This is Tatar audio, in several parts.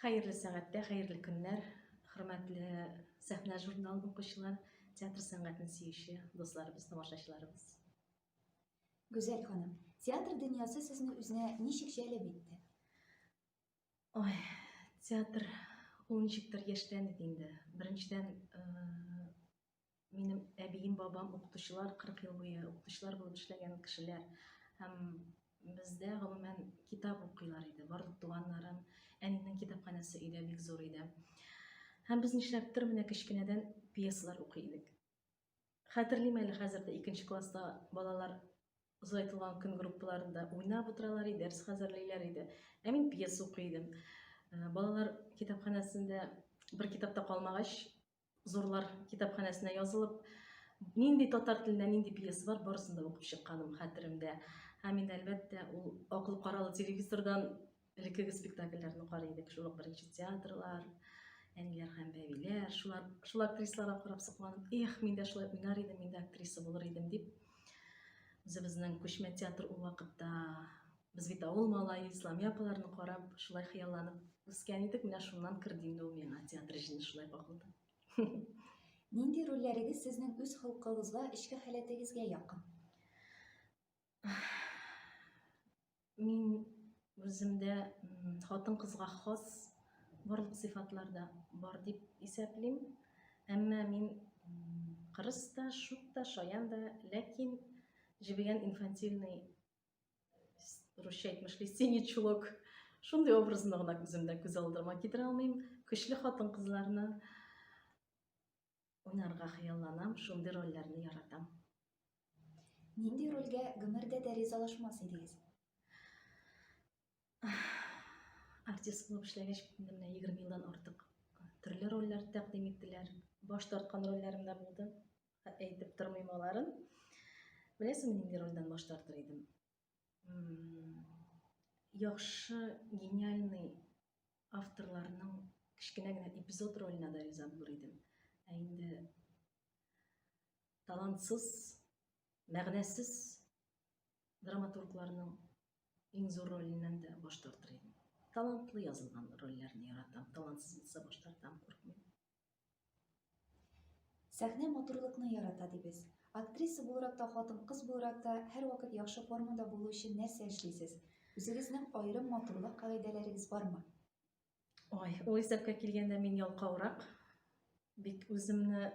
Хәерле сәгатьтә, хәерле көннәр, хөрмәтле сәхнә журналын укучылар, театр сәнгатен сөюче дусларыбыз, тамашачыларыбыз. Гүзәл ханым, театр дөньясы сезне үзенә ничек җәлеп итте? Ой, театр ул ничектер яшьләнеп инде. Беренчедән, э, минем әбием бабам укытучылар кырык ел буе укытучылар булып эшләгән кешеләр һәм бездә гомумән китап укыйлар иде барлык туганнарым әнинең китапханәсе өйдә бик зур иде һәм без нишләптер менә кечкенәдән пьесалар укый идек хәтерлим әле хәзер дә икенче класста балалар озайтылган көн группаларында уйнап утыралар иде дәрес хәзерлиләр иде ә мин пьеса укый идем балалар китапханәсендә бер китапта калмагач Зурлар китапханәсенә язылып, нинди татар телендә нинди пьеса бар, барысын да укып чыкканым хәтеремдә. Һәм инде әлбәттә, ул акыл каралы телевизордан элеккеге спектакльләрне карый идек, шул ук беренче театрлар, әниләр һәм бәбиләр, шулар, шул актрисаларга карап сокланып, эх, мин дә шулай уйнар идем, мин дә актриса булыр идем дип, үзебезнең күчмә театр ул вакытта Без бит авыл малае, Исламия апаларны карап, шулай хыялланып үскән идек, менә шуннан керде инде ул миңа театр җене шулай кагылды. Нинди рольләрегез сезнең үз холкыгызга, эчке халәтегезгә якын? Мин үземдә хатын кызга хас барлык сыйфатларда бар дип исәплим. Әмма мин кырыс та, шук та, шаян да, ләкин җебегән инфантильный русча әйтмешли синий чулок шундый образны гына күземдә күз алдыма китерә алмыйм көчле хатын кызларны уйнарга хыялланам шундый рольләрне яратам нинди рольгә гомердә дә ризалашмас идегез артист булып эшләгәч менә егерме елдан артык төрле рольләр тәкъдим иттеләр баш тарткан рольләрем дә булды әйтеп тормыйм аларын. Беләсең, нинди рольдән баш тартыр идем? Яхшы, гениальный авторларның кечкенә генә эпизод роленә дә риза булыр идем. Ә инде талантсыз, мәгънәсез драматургларның иң зур роленнән дә баш тартыр идем. Талантлы язылган рольләрне яратам, талантсыз булса баш тартам, куркмыйм. Сәхнә матурлыкны ярата дибез. Актриса буларак та, хатын-кыз буларак та һәрвакыт яхшы формада булу өчен нәрсә эшлисез? Үзегезнең аерым матурлык кагыйдәләрегез бармы? Ой, ул исәпкә килгәндә мин ялкаурак. Бик үземне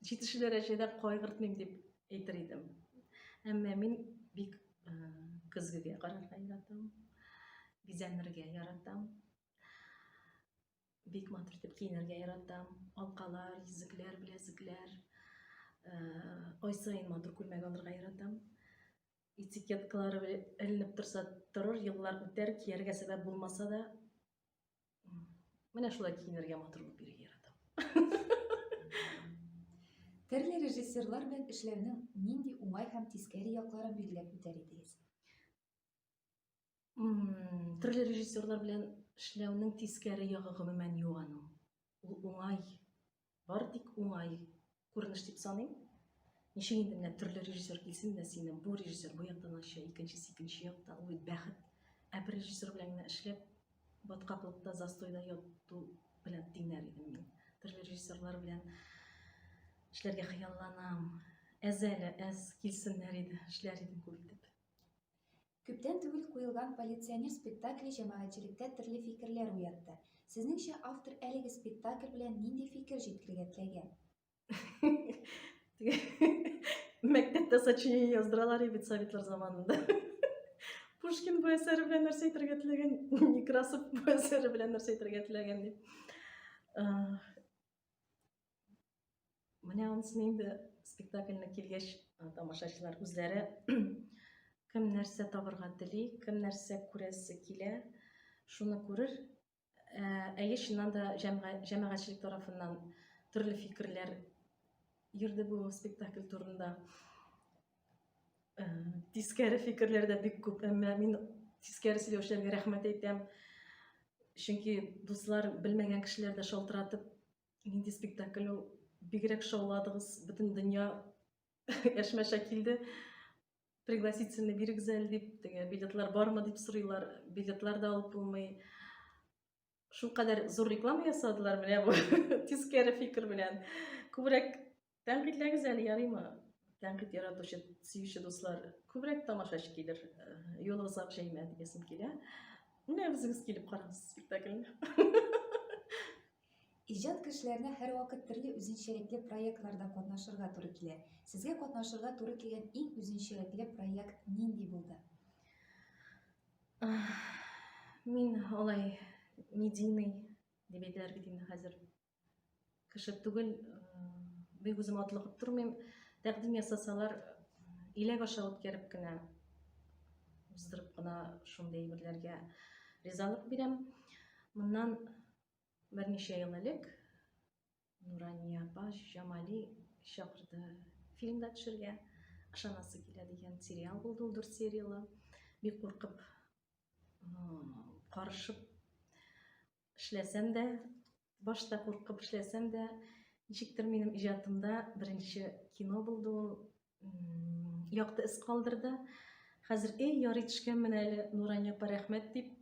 җитешү дәрәҗәдә кайгыртмыйм дип әйтер идем. Әмма мин бик көзгегә карарга яратам. Бизәнергә яратам. Бик матур итеп киенергә яратам. Алкалар, йөзекләр, беләзекләр. Ай сайын матур күлмәк алырга яратам. Этикеткалары эленеп торса торыр, еллар үтәр, кияргә сәбәп булмаса да, Менә шулай киенергә матур булып йөрергә яратам. Төрле режиссерлар белән эшләүнең нинди уңай һәм тискәре якларын билгеләп үтәр идегез? Төрле режиссерлар белән эшләүнең тискәре ягы гомумән юк аның. Ул уңай. Бары тик уңай күренеш дип саныйм. Ничек инде менә төрле режиссер килсен, менә сине бу режиссер бу яктан ача, икенчесе икенче якта, ул бит бәхет. Ә бер режиссер белән генә эшләп, баткаклыкта, застойда яту белән тиңнәр идем мин. Төрле режиссерлар белән эшләргә хыялланам. Әз әле, әз килсеннәр иде, эшләр идем күп итеп. Күптән түгел куелган Полиционер спектакле җәмәгатьчелектә төрле фикерләр уятты. Сезнеңчә, автор әлеге спектакль белән нинди фикер җиткергә теләгән? Мәктәптә сочинение яздыралар и бит советлар заманында. Пушкин бу әсәре белән нәрсә әйтергә теләгән? Некрасов бу әсәре белән нәрсә әйтергә теләгән дип. Менә анысыны инде спектакльне килгәч, тамашачылар үзләре кем нәрсә табырга тели, кем нәрсә күрәсе килә, шуны күрер. Ә, әйе, чыннан да җәмәгатьчелек тарафыннан төрле фикерләр йөрде бу спектакль турында. Ә, тискәре фикерләр дә бик күп, әмма мин тискәре сөйләүчеләргә рәхмәт әйтәм. Чөнки дуслар белмәгән кешеләр дә шалтыратып Нинди спектакль ул? Бигрәк шауладыгыз, бөтен дөнья яшмәшә килде. Пригласительный бирегез әле дип, теге билетлар бармы дип сорыйлар. Билетлар да алып булмый. Шул кадәр зур реклама ясадылар менә бу тискәре фикер белән. Күбрәк Тәнкыйтьләгез әле, ярыймы? Тәнкыйть яратучы, сөюче дуслар, күбрәк тамашачы килер, юлыгызга җәймә диясем килә. Менә үзегез килеп карагыз спектакльне. Иҗат кешеләренә һәрвакыт төрле үзенчәлекле проектларда катнашырга туры килә. Сезгә катнашырга туры килгән иң үзенчәлекле проект нинди булды? Мин алай медийный дип әйтәләр бит инде хәзер. кеше түгел бик үзем атлыгып тормыйм тәкъдим ясасалар иләк аша үткәреп кенә уздырып кына шундый әйберләргә ризалык бирәм моннан берничә ел элек нурания апа җамали чакырды фильм да төшергә ышанасы килә дигән сериал булды ул дүрт сериялы бик куркып карышып эшләсәм дә, башта куркып эшләсәм дә, ничектер минем иҗатымда беренче кино булды ул, якты эз калдырды. Хәзер эй ярый төшкәнмен әле, Нурания апа рәхмәт дип.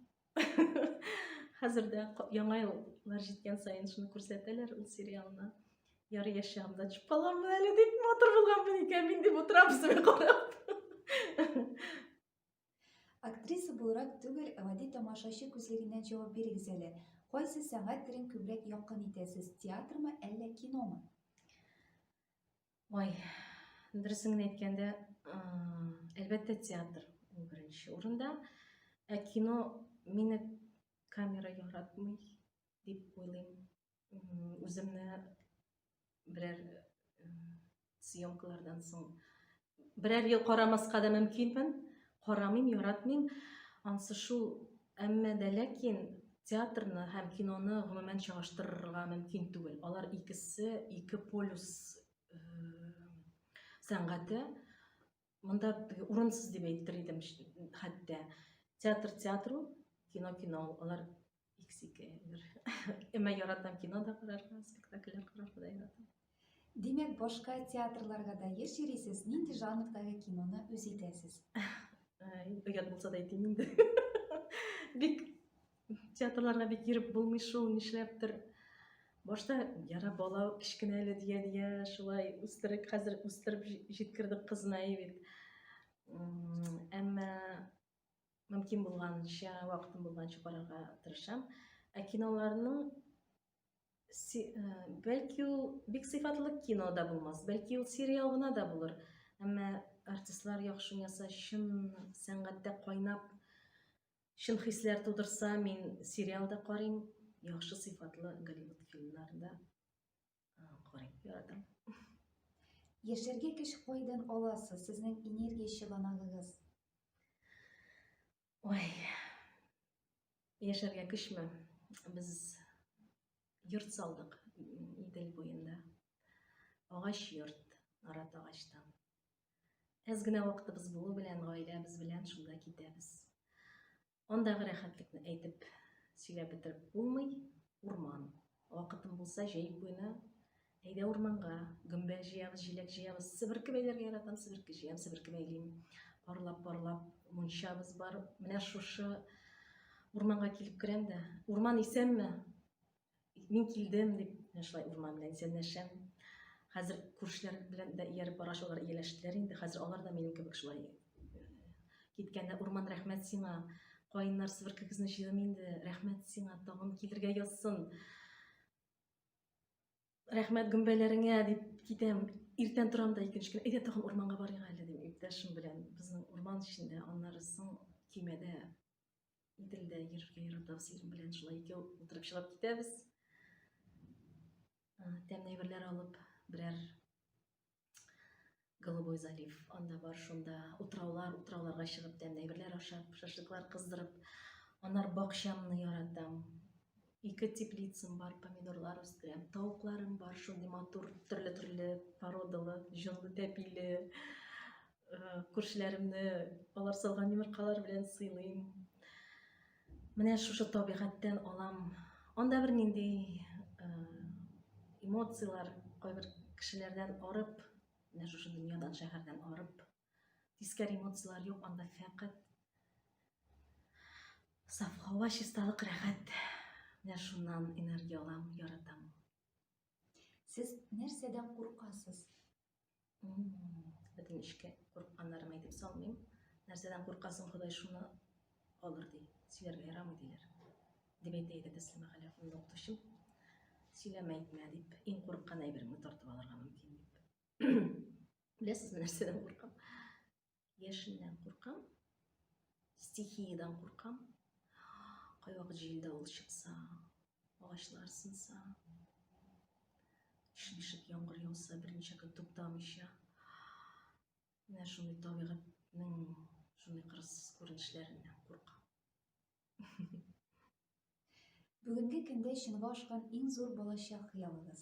Хәзер дә яңа еллар җиткән саен шуны күрсәтәләр ул сериалны. Ярый яшь чагымда төшеп каламын әле дип матур булганмын икән мин дип утырам үземә карап. Актриса буларак түгел, гади тамашачы күзлегеннән җавап бирегез әле. Кайсы сәнгать төрен күбрәк якын итәсез, театрмы, әллә киномы? Ой, дөресен генә әйткәндә, әлбәттә, театр ул беренче урында. Ә кино мине камера яратмый дип уйлыйм. үземне берәр съемкалардан соң берәр ел карамаска да мөмкинмен карамыйм яратмыйм ансы шул әмма дә ләкин театрны һәм киноны гомумән чагыштырырга мөмкин түгел алар икесе ике полюс сәнгате мында урынсыз дип әйтер идем хәтта театр театру кино кино алар икс ике әмма яратам кино да карарга спектакльләр карарга да яратам димәк башка театрларга да еш йөрисез нинди жанрдагы киноны үз итәсез оят булса да әйтим инде бик Театрларга бит йөреп булмый шул, нишләптер. Башта яра бала кечкенә әле дия дия шулай үстерек хәзер үстереп җиткердек кызны бит. Әмма мөмкин булганча, вакытым булганча карарга тырышам. Ә киноларның бәлки ул бик сыйфатлы кино да булмас, бәлки ул сериал гына да булыр. Әмма артистлар яхшы яса, чын сәнгатьтә кайнап Чын хисләр тудырса, мин сериал да карыйм, яхшы сыйфатлы Голливуд фильмнарын да карыйм, яратам. Яшәргә көч кайдан аласыз? Сезнең энергия чыганагыгыз? Ой. Яшәргә көчме? Без йорт салдык Идел буенда. Агач йорт, арат агачтан. Әз генә вакытыбыз булу белән гаиләбез белән шунда китәбез. Андагы рәхәтлекне әйтеп сөйләп бетереп булмый. Урман. Вакытым булса җәй буена әйдә урманга, гөмбәл җыябыз, җиләк җыябыз. Себерке бәйләргә яратам, себерке җыям, себерке бәйлим. Парлап-парлап мунчабыз бар. Менә шушы урманга килеп керәм дә, урман исәнме? Мин килдем дип, менә шулай урман белән исәнләшәм. Хәзер күршеләр белән дә ияреп бара шулар ияләштеләр инде. Хәзер алар да минем кебек шулай э, киткәндә урман рәхмәт сиңа. Каеннар сверкегезне җыйдым инде. Рәхмәт сиңа, тагын килергә язсын. Рәхмәт гөмбәләреңә дип китәм. Иртән торам да икенче көн, әйдә тагын урманга барыйк әле дим, иптәшем белән. Безнең урман эчендә, аннары соң көймәдә Иделдә йөрергә яратам синең белән шулай икәү утырып чыгып китәбез. Тәмле әйберләр алып, берәр Голубой залив анда бар, шунда утраулар, утрауларга чыгып тәмле әйберләр ашап, шашлыклар кыздырып. Аннар бакчамны яратам. Ике теплицам бар, помидорлар үстерәм. Тавыкларым бар, шундый матур, төрле-төрле породалы, җонлы, тәпиле. Күршеләремне алар салган йомыркалар белән сыйлыйм. Менә шушы табигатьтән алам. Анда бер нинди э, эмоцияләр кайбер кешеләрдән арып, менә шушы дөньядан, шәһәрдән арып, тискәр эмоцияләр юк, анда фәкать саф һава, чисталык, рәхәт. Менә шуннан энергия алам, яратам. Сез нәрсәдән куркасыз? Бөтен эшкә курыкканнарым әйтеп салмыйм. Нәрсәдән куркасың, Ходай шуны алыр ди. Сөйләргә ярамый диләр. Дип әйтә иде Тәслимә Галиәхмәтова укытучым. Сөйләмә әйтмә дип, иң курыккан әйбереңне тартып алырга мөмкин дип. Беләсезме, нәрсәдән куркам? Яшеннән куркам, стихиядән куркам. Кайвакыт җилдә ул чыкса, агачлар сынса, ишмешек яңгыр яуса, берничә көн туктамыйча. Менә шундый табигатьнең шундый кырыссыз күренешләреннән куркам. Бүгенге көндә чынга ашкан иң зур балачак хыялыгыз?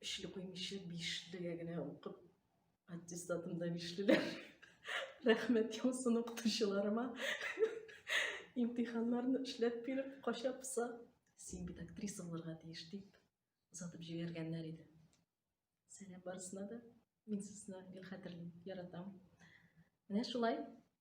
Өчле куймыйча, бишлегә генә укып, аттестатымда бишлеләр. Рәхмәт яусын укытучыларыма. Имтиханнарны эшләп биреп, кача пыса. Син бит актриса булырга тиеш дип, озатып җибәргәннәр иде. Сәлам барысына да. Мин сезне гел хәтерлим, яратам. Менә шулай.